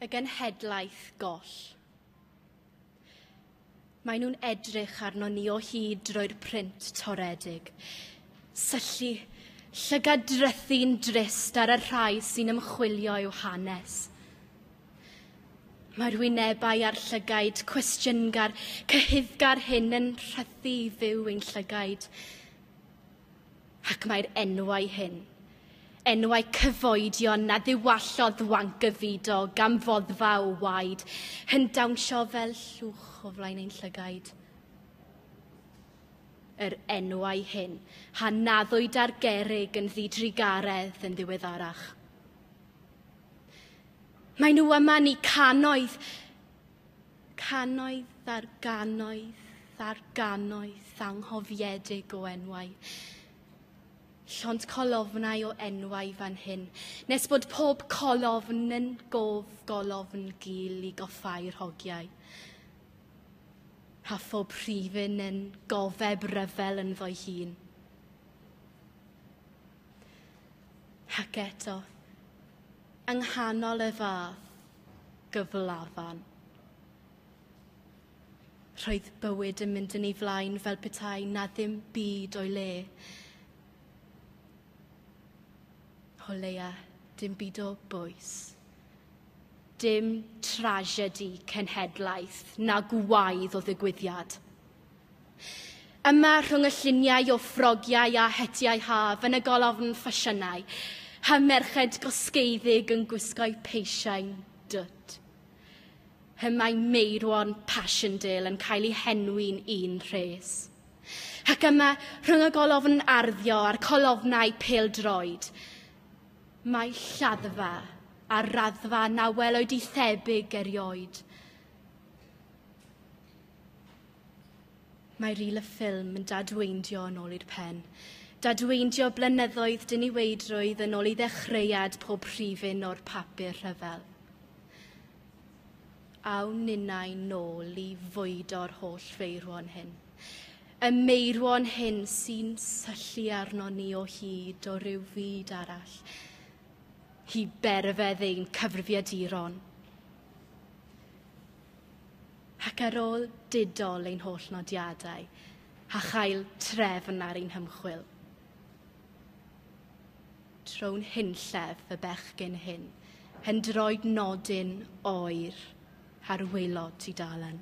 y genhedlaeth goll. Mae nhw'n edrych arno ni o hyd drwy'r print toredig. Syllu llygad drythu'n drist ar y rhai sy'n ymchwilio i'w hanes. Mae'r wynebau a'r llygaid cwestiyngar, cyhuddgar hyn yn rhythu i fyw ein llygaid. Ac mae'r enwau hyn, enwau cyfoedion na ddiwallodd Wankyvido gan foddfa o waed, yn dawnsio fel llwch o flaen ein llygaid. Yr enwau hyn a naddwyd ar gerrig yn ddidrugaredd yn ddiweddarach. Mae nhw yma ni cannoedd, Cannoedd ar gannoedd ar gannoedd anghofiedig o enwau. Llond colofnau o enwau fan hyn, nes bod pob colofn yn gof golofn gul i goffau'r hogiau. Rha phob rhifyn yn gofeb ryfel ynddo'i hun. Ac eto, yng nghanol y fath, gyflafan. Roedd bywyd yn mynd yn ei flaen fel petai na ddim byd o'i le. O leia, dim byd o bwys. Dim tragedi cenhedlaeth na gwaedd o ddigwyddiad. Yma rhwng y lluniau o ffrogiau a hetiau haf yn y golofn ffasiynau, hy merched gosgeiddig yn gwisgo'u peisiau'n dwt. Hy mae Meirwon Passchendaele yn cael ei henwi'n un rhes. Ac yma, rhwng y golofn arddio a'r colofnau pêl-droed, mae lladdfa a raddfa na welwyd i thebyg erioed. Mae ril y ffilm yn dadweindio yn ôl i'r pen. Dadweindio blynyddoedd diniweidrwydd yn ôl i ddechreuad pob rhifyn o'r papur rhyfel. Awn ninnau nôl i fwydo'r holl feirwon hyn. Y meirwon hyn sy'n syllu arno ni o hyd o ryw fyd arall. Hi berfedd ein cyfrifiaduron. ac ar ôl didol ein holl nodiadau a chael trefn ar ein hymchwil tro'n hunllef fy bechgyn hyn, hen droed nodyn oer ar waelod tudalen.